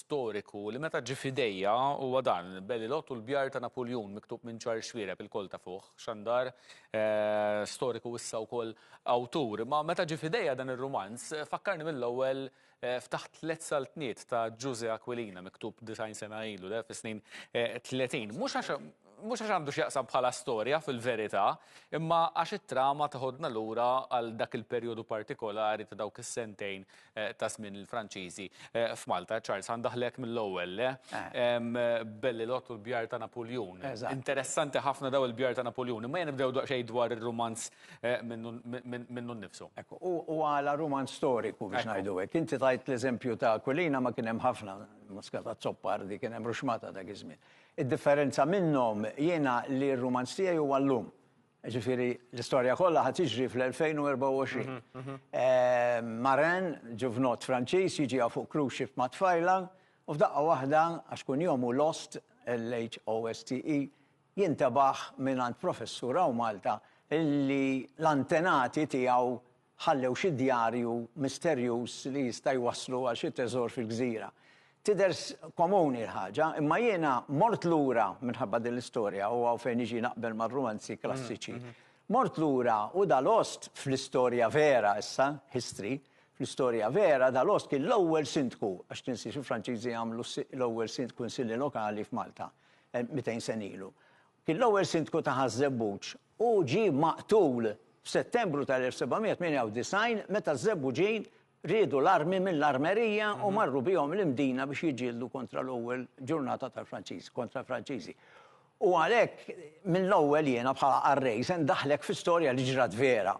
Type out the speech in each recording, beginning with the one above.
storiku li meta ġie f'idejja huwa dan, Belilot u l-bjar ta' Napuljun miktub minn Charles Xwiereb il-koll tafuh, xandar eh, storiku issa wkoll awtur. Ma meta ġie f'idejja dan ir-rumanz fakkarni mill-ewwel eh, ftaħt tliet saltniet ta' Ġuże Aquilina miktub 90 sena ilu, fis-snin 30. Eh, Mhux għax Mhux għax għandu x'jaqsam bħala storja fil-verità, imma għax it-trama teħodna lura għal dak il-perjodu partikolari ta' dawk is-sentejn ta' żmien il-Franċiżi f'Malta. Charles, ħa ndaħħlek mill-ewwel, le? Bellelott u l-bjar ta' Napuljun. Interessanti ħafna dawn il-bjar ta' Napuljun, imma ejja nibdew daqsxejn dwar ir-rumanz minnu nnifsu. Ekku, u għala rumanz storiku biex ngħidu hekk. Inti tajt l-eżempju ta' Aquilina, ma kien hemm ħafna, Muscat Azzopardi, kien hemm Ruxmata dak iż-żmien. Id-differenza minnhom jiena li r-rumanz tiegħi huwa llum. Jiġifieri l-istorja kollha ħa tiġri fl-2024. Marin, ġuvnot Franċiż, jiġiha fuq cruise ship ma' tfajla u f'daqqa waħda, għax kunjom hu Lost, L-H-O-S-T-E, jintebaħ mingħand professur hawn Malta li l-antenati tiegħu ħallew xi djarju misterjuż li jista' jwasslu għal xi teżor fil-gżira. Tidher komuni l-ħaġa, imma jiena mort lura, minħabba din l-istorja, u hawn fejn niġi naqbel mar-rumanzi klassiċi, mort lura u Dalost fl-istorja vera issa, history, fl-istorja vera Dalost kien l-ewwel sindku, għax tinsiex il-Franċiżi għamlu l-ewwel sind kunsilli lokali f'Malta, 200 sena ilu. Kien l-ewwel sindku ta' Ħaż-Żebbuġ Hu ġie maqtul f'Settembru tal-1798 meta ż-Żebbuġin riedu l-armi mill-armerija u marru bihom l-Imdina biex jiġġieldu kontra l-ewwel ġurnata tal-Franċiżi, kontra l-Franċiżi. U għalhekk mill-ewwel jiena bħala qarrej se ndaħħlek fi storja li ġrat vera.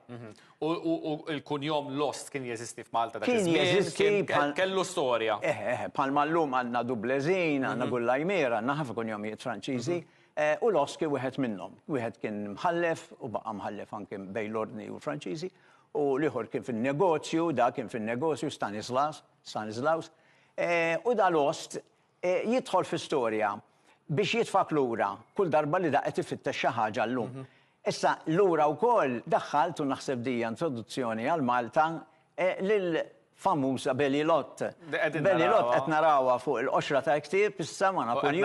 U l-kunjom Lost kien jeżisti f'Malta dak iż-żmien? Kien jeżisti bħal. Kellu storja. Eħe, eħe, bħalma llum għandna Dublezin, għandna Gullajmiera, għandna ħafna kunjomijiet Franċiżi. U l-ost kien wieħed minnhom. Wieħed kien mħallef u baqa' mħallef anke bejn l-Ordni u l-Franċiżi, u l-ieħor kien fin-negozju, da kien fin-negozju, Stanislas, Stanislaus. U da l-ost jidħol fi storja biex jitfak lura kull darba li da qed ifittex xi ħaġa llum. Issa lura wkoll daħħalt, u naħseb din hija introduzzjoni għal Malta, lill-famuża Belly Lot. Belly Lot qed narawha fuq il-qoxra tal-ktieb issa ma' Napulju.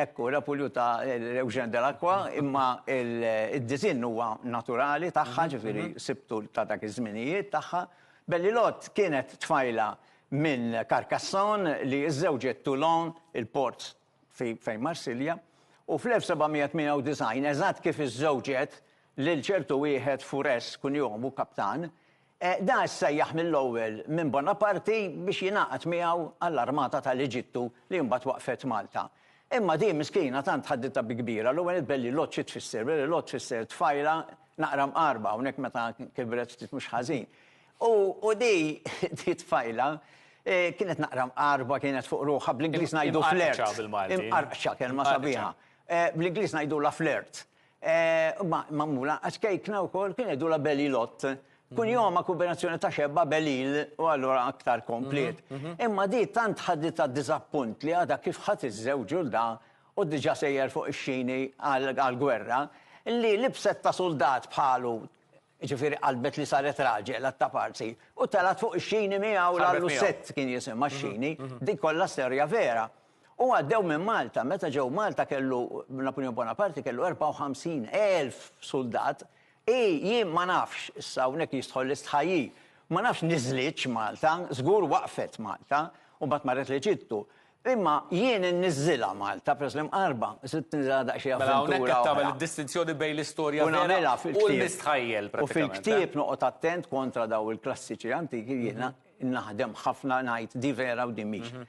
Ekku, Napulju ta' Eugène Delacroix, imma d-disinn huwa naturali tagħha, ġifieri sibtu ta' dak iż-żminijiet tagħha. Belly Lot kienet tfajla minn Carcassonne li żżewġet Toulon, il-port fi fejn Marsilja, u fl-1798, eżatt kif iżżewġet lil ċertu wieħed Fures, kunjomu kaptan, da issejjaħ mill-ewwel minn Bonaparti biex jingħaqad miegħu għall-armata tal-Eġittu li mbagħad waqfet Malta. Imma di miskina tant ħadditha bi kbira, l-ewwel nett Bellilot xi tfisser? Bellilot tfisser tfajla naqra mqarba, hawnhekk meta kibret ftit mhux ħażin. U di t-tfajla kienet naqra mqarba, kienet fuq ruħha, bl-Ingliż ngħidu flirt. Imqarqċa bil-Malti. Imqarqċa, kelma sabiħa. Bl-Ingliż ngħidulha flirt. Ma magħmula, għax kejkna wkoll, kien jgħidulha belly lot. Kunjomha kombinazzjoni ta' xebba, belil, u allura aktar kompliet. Imma di tant ħaditha diżappunt li għadha kif ħadt iż-żewġ u l-da u diġà sejjer fuq ix-xini għall-gwerra, li libset ta' suldat bħalu, Jiġifieri qalbet li saret raġel għat-taparsi u telgħet fuq ix-xini miegħu l Lucette kien jisimha x-xini, din kollha storja vera. U għaddew minn Malta, meta ġew Malta kellu Napoleon Bonaparte kellu 54,000 suldat, hi jien ma nafx, issa hawnhekk jistħoll l-istħajjir, ma nafx niżlitx Malta, żgur waqfet Malta u mbagħad marret l-Eġittu. Imma jien inniżżilha Malta, peress li mqarrba, sirt ninżilha daqsxejn avventura oħra. Mela hawnhekk qed tagħmel id-distinzjoni bejn l-istorja vera u l-mistħajjel pratikament. U fil-ktieb noqgħod attent kontra dawn il-klassiċi antiki jiena naħdem ħafna ngħid din vera u din mhix.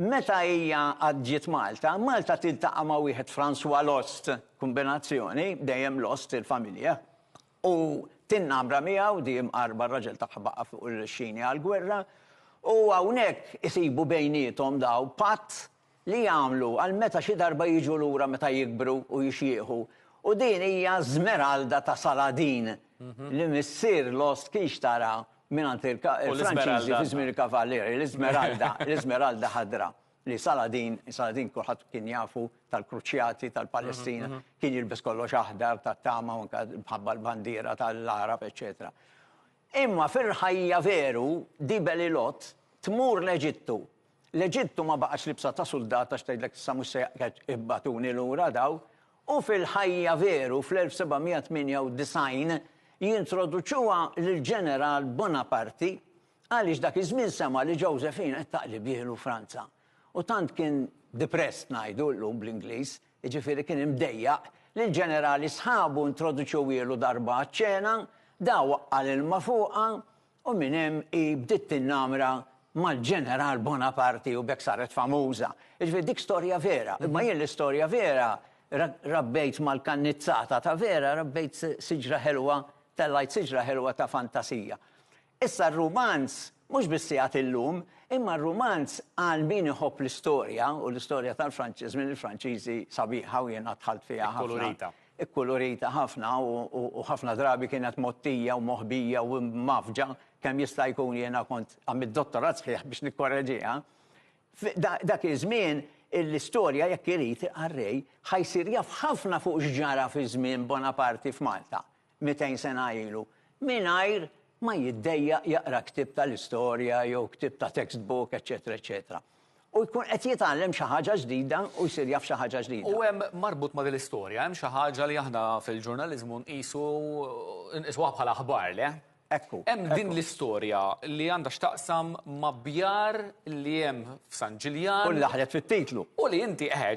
Meta hija għad ġiet Malta, Malta tiltaqa' ma' wieħed François Lost, kombinazzjoni, dejjem Lost il-familja, U tinnamra miegħu, di imqarrba r-raġel tagħha baqa' fuq ir-rixxini għall-gwerra, u hawnhekk isibu bejniethom dawn patt li jagħmlu għal meta xi darba jiġu lura meta jikbru u jixjieħu. U din hija ż-żmeralda ta' Saladin li missier Lost kien xtara mingħand il-Franċiżi fi żmien il-Kavalieri, l-iżmeralda, l-iżmeralda ħadra. li Saladin, Saladin kulħadd kien jafu tal-kruċjati tal-Palestina, kien jilbes kollox aħdar tat-tama u anke mħabba l-bandiera tal-Arab, eċċetera. Imma fil-ħajja veru di Belilot tmur l-Eġittu. L-Eġittu ma baqax libsa ta' suldat għax tgħidlek issa mhux se ibbatuni lura daw, u fil-ħajja veru fl-1798 jintroduċuha lill-ġeneral Bonaparti Għaliex dak iż-żmien sema' li Josephine qed taqli bih 'l Franza. U tant kien depressed ngħidu llum bl-Ingliż, jiġifieri kien imdejjaq, li l-ġenerali sħabu introduċewielu darba għaċ-ċena, da waqqa' l-ilma fuqha u minn hemm hi bdiet tinnamra mal-ġeneral Bonaparte u b'hekk saret famuża. Jiġifieri dik storja vera, imma jien l-istorja vera rabbejt mal-kannizzata ta' vera rabbejt siġra ħelwa, tellgħajt siġra ħelwa ta' fantasija. Issa r-rumanz mhux biss sigħat illum, imma r-rumanz għal min iħobb l-istorja, u l-istorja tal-Franċiż minn il-Franċiżi sabiħa u jiena dħalt fiha ħafna. Ikkulurita. Ikkulurita ħafna u ħafna drabi kienet mgħottija u moħbija u mgħaffġa kemm jista' jkun jiena kont għamilt dottorat sħiħ biex nikkoreġiha. Dak iż-żmien l-istorja jekk irid ar-Re ħa jsir jaf ħafna fuq x'ġara fi żmien Bonaparte f'Malta. 200 sena ilu, mingħajr ma jiddejjaq jaqra ktieb tal-istorja jew ktieb ta' textbook, eċċetera, eċċetera. U jkun qed jitgħallem xi ħaġa ġdida u jsir jaf xi ħaġa ġdida. U hemm, marbut ma' din l-istorja, hemm xi ħaġa li aħna fil-ġurnaliżmu nqisu, inqisuha bħala aħbar, le? Ekku. Hemm din l-istorja li għandha x'taqsam ma' bjar li hemm f'San Ġiljan. U laħlet fit-titlu. U li inti eħe,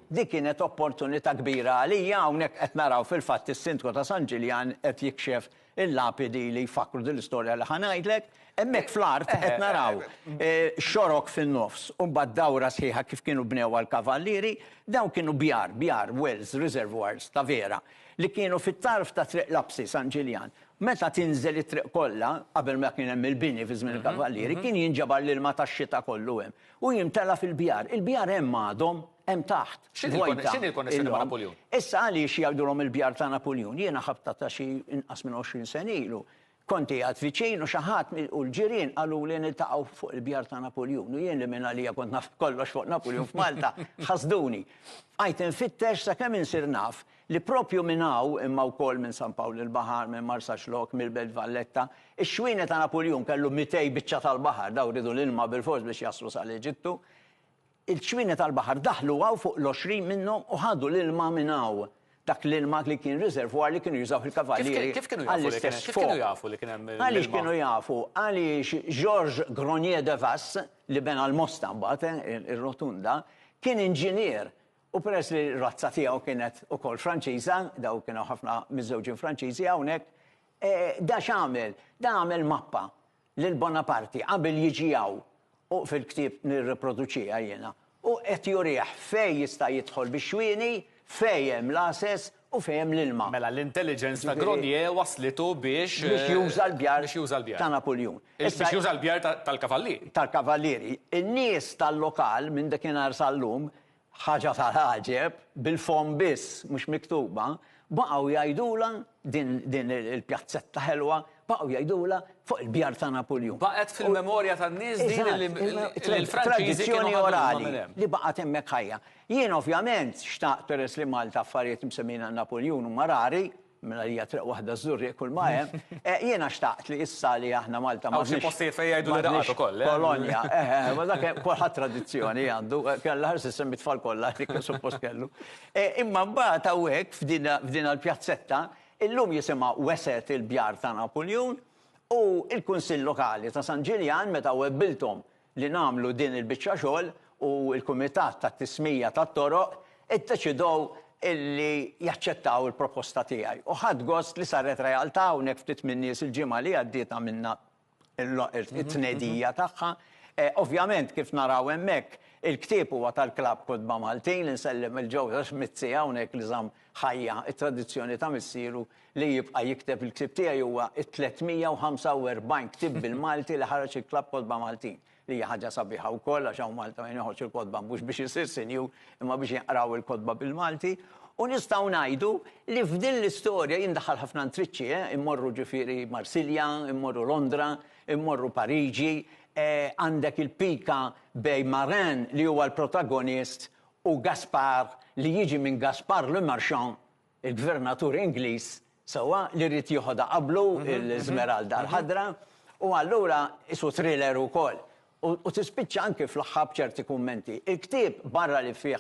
Di kienet opportunità kbira għalija hawnhekk qed naraw fil-fatt is-Sindku ta' San Ġiljan qed jikxef il-lapidi li jfakkru din l-istorja li ħa ngħidlek. Hemmhekk fl-art qed naraw xorok fin-nofs u mbagħad dawra sħiħa kif kienu bnewha l-kavallieri. Dawn kienu bjar, bjar, wells, reservoirs ta' vera. li kienu fit-tarf ta' Triq Lapsi, San Ġiljan. Meta tinżel it-triq kollha, qabel ma kien hemm il-bini fi żmien il-kavallieri, kien jinġabar l-ilma tax-xita kollu hemm u jimtela fil-bjar. Il-bjar hemm għadhom, hemm taħt, vojta. X'inhi l-konnessjoni ma' Napuljun? Issa għaliex jgħidulhom il-bjar ta' Napuljun? Jiena ħabtha ta' xi inqas minn 20 sena ilu. Kont qiegħed viċin u xi ħadd u l-ġirien qaluli niltaqgħu fuq il-bjar ta' Napuljun u jien li mingħalija kont naf kollox fuq Napuljun f'Malta, ħasduni. Bqajt infittex sakemm insir naf li proprju minn hawn, imma wkoll minn San Pawl il-Baħar, minn Marsaxlokk, mill-Belt Valletta, ix-xwieni ta' Napuljun kellu mitej biċċa tal-baħar, dawn riedu l-ilma bilfors biex jaslu sal-Eġittu. Il-ċwienet tal-baħar daħlu hawn fuq l-għoxrin minnhom u ħadu l-ilma minn hawn. Dak l-ilma li kien riservoir li kienu jużaw il-kavallieri għall-istess skop. Kif kienu jafu li kien hemm l-ilma? Għaliex kienu jafu? Għaliex Georges Gronier de Vasse, li bena l-Mosta mbagħad, ir-rotunda, kien inġinier u peress li r-razza tiegħu kienet ukoll Franċiża, dawn kien hawn ħafna miżżewġin Franċiżi hawnhekk, da x'għamel? Da għamel mappa. lil Bonaparti qabel jiġi hawn, u fil-ktieb nirriproduċiha jiena, u qed jurih fejn jista' jidħol bix-xwieni, fejn hemm l-għases u fejn hemm l-ilma. Mela l-intelligence ta' Gronier wasslitu biex. Biex juża l-bjar ta' Napuljun. Biex juża l-bjar tal-kavallieri. Tal-kavallieri. In-nies tal-lokal, minn dakinhar sal-lum, Ħaġa tal-għaġeb, bil-fomm biss, mhux miktuba, baqgħu jgħidulha, din, din il-pjazzetta ħelwa, baqgħu jgħidulha fuq il-bjar ta' Napuljun. Baqgħet fil-memorja tan-nies din li, li l-Franċiżi kienu Tradizzjoni orali li baqgħet hemmhekk ħajja. Jien ovvjament xtaqt peress li Malta affarijiet msemmijin għal Napuljun huma rari, Mela hija triq waħda żżur jekk kull ma hemm. Jiena xtaqt li issa li aħna Malta ma. Hawn xi postijiet fejn jgħidu li raqgħet ukoll, le? Kolonja, eħe, ma dak kulħadd tradizzjoni għandu, kellha ħares issemmi t-tfal kollha dik li suppost kellu. Imma mbagħad hawnhekk f'din il-pjazzetta, illum jisimha Weset il-Bjar ta' Napuljun, u l-Kunsill Lokali ta' San Ġiljan meta webbilthom li nagħmlu din il-biċċa xogħol u l-Kumitat tat-Tismija tat-Toroq iddeċidow illi jaċċettaw il-proposta tiegħi u ħadt gost li saret realtà hawnhekk ftit min-nies il-ġimgħa li għaddiet għamilna t-tnedija tagħha. Ovvjament kif naraw hemmhekk il-ktieb huwa tal-Klabb Kotba Maltin, insellem lil Joseph Mizzi hawnhekk li żamm ħajja t-tradizzjoni ta' missieru li jibqa' jikteb il-ktieb tiegħi huwa t-345 ktieb bil-Malti li ħareġ il-Klabb Kotba Maltin, li hija ħaġa sabiħa wkoll għax hawn Malta min iħoġġ il-kotba mhux biex isir sinjur imma biex jinqraw il-kotba bil-Malti. U nistgħu ngħidu li f'din l-istorja jien ndaħħal ħafna ntriċċi, eh, immorru ġifieri Marsilja, immorru Londra, immorru Pariġi, eh, għandek il-pika bej Marin li huwa l-protagonist u Gaspar li jiġi minn Gaspard Le Marchant, il-gvernatur Ingliż, sewwa, li ried jieħodha qablu, l-Żmeralda l-Ħadra, u allura qisu thriller ukoll. U tispiċċa anki fl-aħħar b'ċerti kummenti. Il-ktieb, barra li fih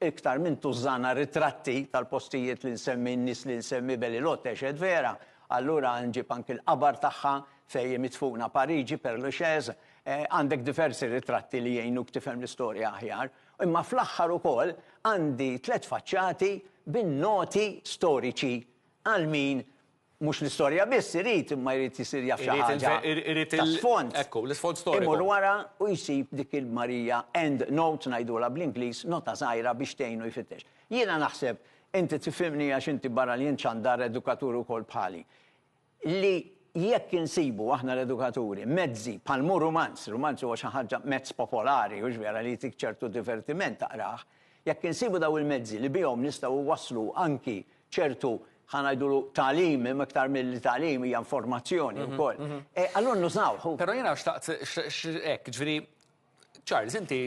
iktar minn tużżana ritratti tal-postijiet li nsemmi, n-nies li nsemmi, Belle Ilotte, eċ. Vera, allura nġib anki l-qabar tagħha fejn hi midfuna, Pariġi, Père Lachaise, għandek diversi ritratti li jgħinuk tifhem l-istorja aħjar. Imma fl-aħħar ukoll għandi tliet faċċati bin-noti storiċi għal min mhux l-istorja biss irid imma jrid isir jaf xi ħaġa ta' sfond. Imur wara u jsib dik il-Marija end note ngħidulha bl-Ingliż, nota żgħira biex tgħinu jfittex. Jiena naħseb, inti tifhimni għax inti barra li int xandar edukatur ukoll bħali. li jekk insibu aħna l-edukaturi mezzi bħal mhu rumanz, rumanz huwa xi ħaġa mezz popolari hux vera li jtik ċertu divertiment taqrah, jekk insibu dawn il-mezzi li bihom nistgħu nwasslu anki ċertu ħa ngħidulu tagħlim imma iktar milli tagħlim hija informazzjoni wkoll, allura nużawh hu. Però jiena xtaqt hekk, jiġifieri Charles inti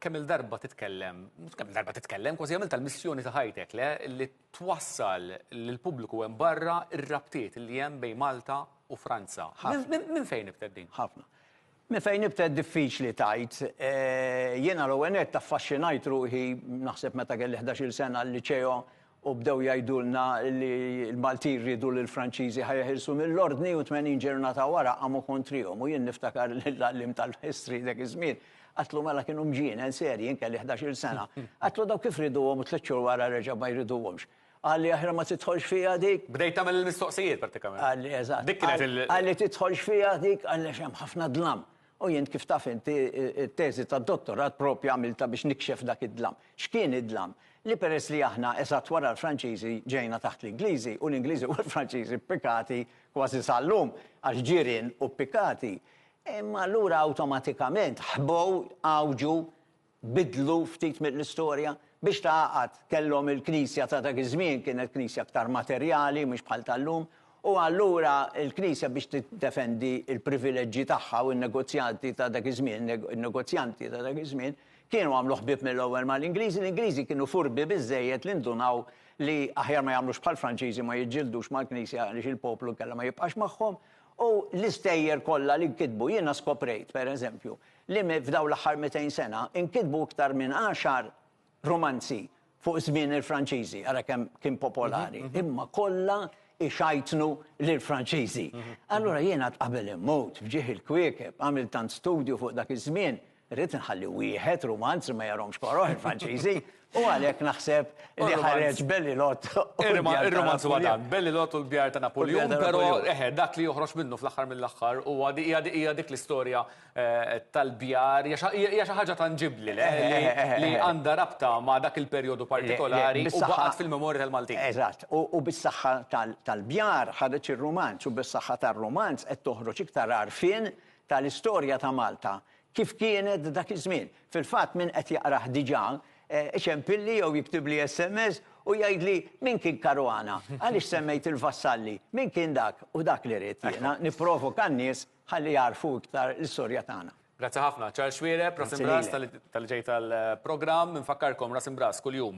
kemm-il darba titkellem, mhux kemm-il darba titkellem, kważi għamilta l-missjoni ta' ħajtek, le, li twassal lill-pubbliku hemm barra r-rabtiet li hemm bejn Malta u Franza. Minn fejn nibtet din? Ħafna. Minn fejn nibtet diffiċli tgħid. Jiena l-ewwel nett affaxxinajt ruħi naħseb meta kelli ħdax-il sena l-liċeo u bdew jgħidulna li l-Maltin riedu li l-Franċiżi ħa jeħilsu mill-Ordni u tmenin ġirnata wara qamu kontrihom u jien niftakar li l-għalliem tal-History dak iż-żmien għadtlu mela kienu mġienen serji jien kelli ħdax-il sena. Għadtlu daw kif rieduhom u tliet xhur wara reġa' ma jriduhomx. Qalli aħjar ma tidħolx fiha dik. Bdejt tagħmel il-mistoqsijiet prattikament. Qalli eżatt. Dik kienet il. Qalli tidħolx fiha dik għaliex hemm ħafna dlam. U jien kif taf int, it-teżi tad-dottorat proprju għamiltha biex nikxef dak id-dlam. X'kien id-dlam? Li peress li aħna, eżatt wara l-Franċiżi, ġejna taħt l-Ingliżi, u l-Ingliżi u l-Franċiżi ppikati kważi sal-lum, għax ġirien u ppikati, imma allura awtomatikament ħbow, għawġu, biddlu ftit mill-istorja. Biex tgħaqqad, kellhom il-knisja ta' dak iż-żmien kienet knisja aktar materjali mhux bħal tal-lum, u allura l-knisja biex tiddefendi l-privileġġi tagħha u n-negozjanti ta' dak iż-żmien, in-negozjanti ta' dak iż-żmien, kienu għamlu ħbieb mill-ewwel mal-Ingliżi, l-Ingliżi kienu furbi biżżejjed li ndunaw li aħjar ma jagħmlux bħall-Franċiżi u ma jiġġildux mal-knisja għaliex il-poplu kellha ma jibqax magħhom, U l-istejjer kollha li nkitbu, jiena skoprejt, per eżempju, li f'dawn l-aħħar mitejn sena nkitbu iktar minn għaxar rumanzi fuq żmien il-Franċiżi, ara kemm kien popolari, imma kollha ixajtnu lill-Franċiżi. Allura jien għad qabel immut, f'ġieħ il-kwiekeb, għamilt tant studju fuq dak iż-żmien, Rrid inħalli wieħed rumanz li ma jarhomx koroh il-Franċiżi u għalhekk naħseb li ħareġ Bellilot. Ir-rumanz huwa dan, Bellilot u l-bjar ta' Napuljun, però eħe, dak li joħroġ minnu fl-aħħar mill-aħħar huwa hija dik l-istorja eh, tal-bjar, hija xi ħaġa tanġibbli li għandha rabta ma' dak il-perjodu partikolari u baqgħet fil-memorja tal-Maltin. Eżatt, u bis-saħħa tal-bjar ħareġ ir-rumanz u bis-saħħa tar-rumanz qed toħroġ iktar għarfien tal-istorja ta' Malta kif kienet dak iż-żmien. Fil-fatt min qed jaqrah diġà iċempilli jew jiktibli sms u jgħidli min kien Caruana? Għaliex semmejt il-Vassalli? Min kien dak? U dak li rrid jiena, nipprovoka n-nies ħalli jagħrfu iktar l-istorja tagħna. Grazzi ħafna. Charles Xuereb, Ras Imbras, talli ġejt għall-programm. Infakkarkom, Ras Imbras kuljum